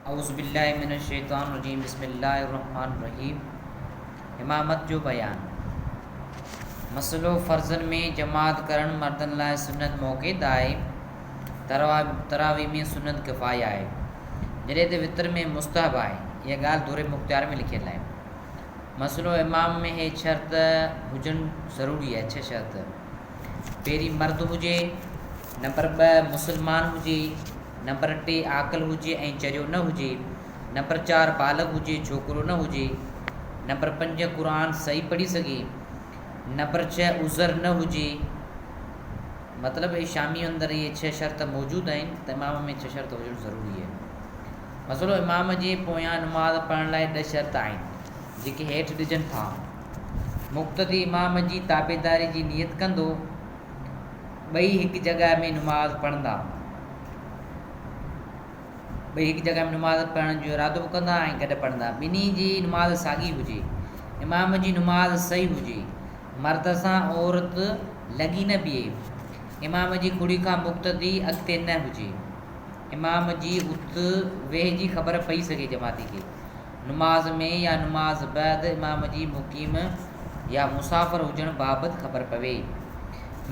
اعوذ بالله من الشيطان الرجيم بسم الله الرحمٰن الرحيم امامت جو بيان مسئلو فرضن ۾ جماعت ڪرڻ مردن لاء سنت موقيت آهي تراويح ۾ سنت ڪفايه آهي جڏهن ته وتر ۾ مستحب آهي اها ڳالهه در مختيار ۾ لکيل آهي مسئلو امام ۾ هي شرط هجڻ ضروري آهي ڇهه شرط پهرين مرد هجي نمبر ٻه مسلمان هجي، نمبر ٽي عاقل هجي ۽ چريو نه هجي، نمبر چار بالغ هجي ڇوڪرو نه هجي، نمبر پنج قرآن صحيح پڙهي سگهي، نمبر ڇهه عذر نه هجي. مطلب اهي شامي اندر اهي ڇهه شرط موجود آهن ته امام ۾ ڇهه شرط هجڻ ضروري آهي. مسئلو امام جي پويان نماز پڙهڻ لاء ڏهه شرط آهن جيڪي هيٺ ڏجن ٿا. مقتدي امام جي تابعداري جي نيت ڪندو ٻئي هڪ جڳهه ۾ نماز پڙهندا. ٻئي هڪ جڳهه ۾ نماز پڙهڻ جو ارادو به ڪندا ۽ گڏ پڙهندا. ٻنهي جي نماز ساڳي هجي. امام جي نماز صحيح هجي. مرد سان عورت لڳي نه بيهي. امام جي کڙي کان مقتدي اڳتي نه هجي. امام جي اٿ ويهه جي خبر پئي سگهي جماعتي کي. نماز ۾ يا نماز بعد امام جي مقيم يا مسافر هجڻ بابت خبر پوي.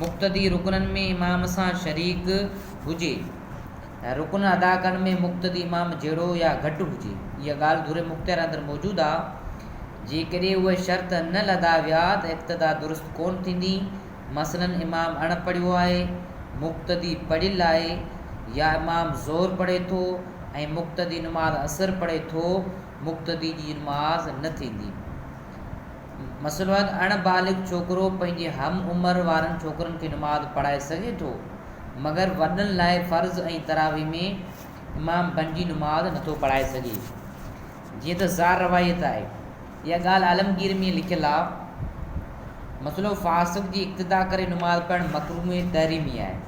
مقتدي رڪنن ۾ امام سان شريڪ هجي. رڪن ادا ڪرڻ ۾ مقتدي امام جهڙو يا گهٽ هجي. اها ڳالهه دور مختيار اندر موجود آ. جيڪڏهن اهي شرط نه لڌا ويا ته اقتدا درست ڪونه ٿيندي. مثلاً امام اڻ پڙهيو آهي، مقتدي پڙهيل آهي، يا امام ظهر پڙهي ٿو ۽ مقتدي نماز عصر پڙهي ٿو، مقتدي جي نماز نه ٿيندي. مسئلو آهي ته اڻ بالغ ڇوڪرو پنهنجي هم عمر وارن ڇوڪرن کي نماز پڙهائي سگهي ٿو، مگر وڏن لاء فرض ۽ تراويح ۾ امام بنجي نماز نٿو پڙهائي سگهي، جيئن ته زار روايت آهي. اها ڳالهه عالمگير ۾ لکيل آهي. مسئلو فاسق جي اقتدا ڪري نماز پڙهڻ مڪروه ۽ تحريمي آهي.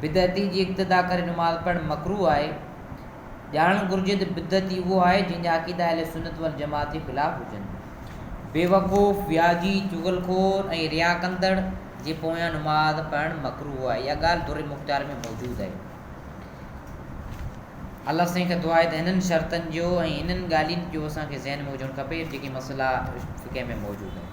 بدعتي جي اقتدا ڪري نماز پڙهڻ مڪروه آهي. ڄاڻڻ گهرجي ته بدعتي اهو آهي جنهن جا عقيدا اهل سنت والجماعت جي خلاف هجن. بيوقوف، وياجي، چغل خور ۽ ريا ڪندڙ جي پويان نماز پڙهڻ مڪروه آهي. اها ڳالهه در مختار ۾ موجود آهي. الله سائين کان دعا آهي ته انهن شرطن جو ۽ انهن ڳالهين جو اسان کي ذهن ۾ هجڻ کپي جيڪي مسئلا فقه ۾ موجود آهن.